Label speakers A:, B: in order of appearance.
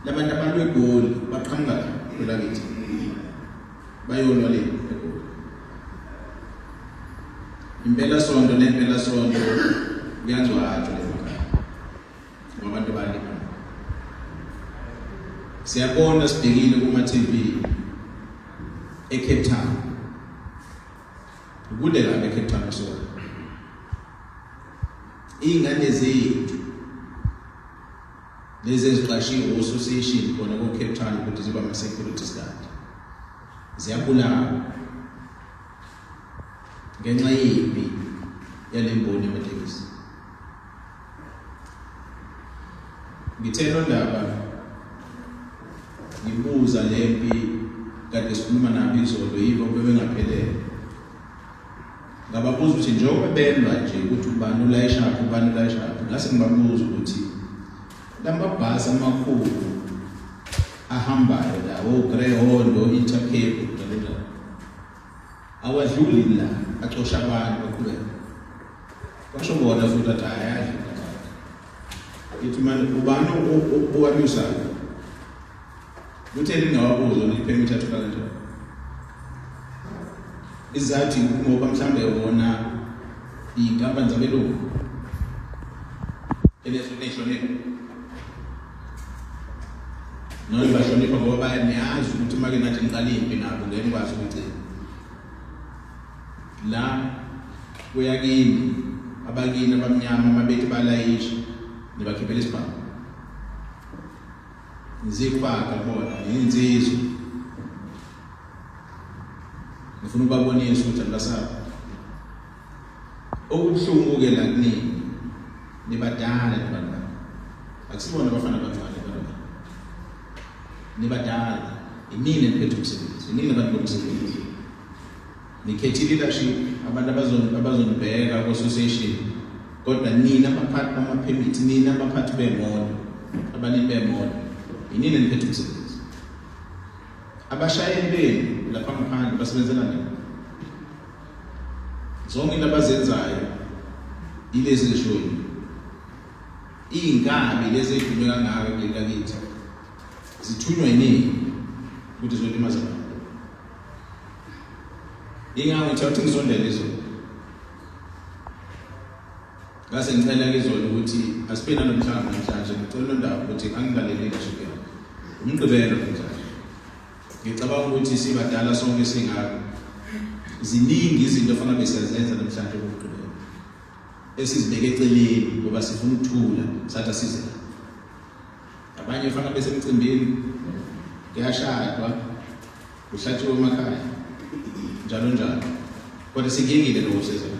A: Labantu abalwe egoli baqhamuka phela kithi. Bayolwa le egoli. Impela sonto nempela sonto kuyangcwatshwa le makhaya. Ngabantu bali. Siyabona sibhekile kuma TV eCape Town. Kude la eCape Town sona. Ingane zethu Lezi eziqashiwe ososiyeshini khona ko-Cape Town ukuthi ziba ama-security guard ziyabulawa ngenxa yimbi yale mboni yamatekisi ngithe londaba ngibuza le mpi kade sikhuluma nabo izolo yibo bebengaphelele Ngababuza ukuthi njengoba belwa nje ukuthi ubani ulayishaphi ubani ulayishaphi ngase ngibabuza ukuthi lamabhasi amakhulu ahambayo la ogreyhondo oh, intercape njalo awadluli la acosha abantu baqhubeka basho bona futhi athi ayadlula ngithi manje ubani owanyusayo Uthe lingawabuza ukuthi permit athola kanjani. Izathi ngoba mhlambe wona inkampani zabelungu elehlonipha noma bahlonipha ngoba bayaniyazi ukuthi uma ke nathi niqala impi nabo ngeke nikwazi ukugcina la kuya kimi abakini abamnyama mabethi balayisha nibakhiphela isibhamu Ngizifake bona ngiyinsizwa. Ngifuna ukubabonisa ukuthi anibasaba. Okubuhlungu ke la kunini. Nibadala abantu. Akusibona abafana abantwana abantu. Nibadala. Inini eniphethe umsebenzi. Inini abantu bomsebenzi. Nikhethi leadership abantu abazon abazonibheka ku association kodwa nina abaphathi bama permit nina abaphathi bemoto abanini bemoto yinina niphethe umsebenzi abashayeli benu lapha ngaphandle basebenzela nini zonke into abazenzayo ilezi lishoni iy'nkabi lezi ey'dume kangaka kuleli lakithi zithunywa yiningi ukuthi zolimaza abantu Ingabe uthatha ukuthi ngisondele izolo. Ngase ngicela izolo ukuthi asibe nanomhlangano namhlanje ngicela londaba ukuthi angilalele leadership yakho. Umgqibelo namhlanje. Ngicabanga ukuthi sibadala sonke singako. Ziningi izinto ofanele besiyazenza namhlanje umgqibelo. Esizibeke eceleni ngoba sifuna ukuthula sathi asize. abanye fana besemcimbini kuyashadwa kuhlatshiwe emakhaya njalo njalo kodwa sikingile lokusizana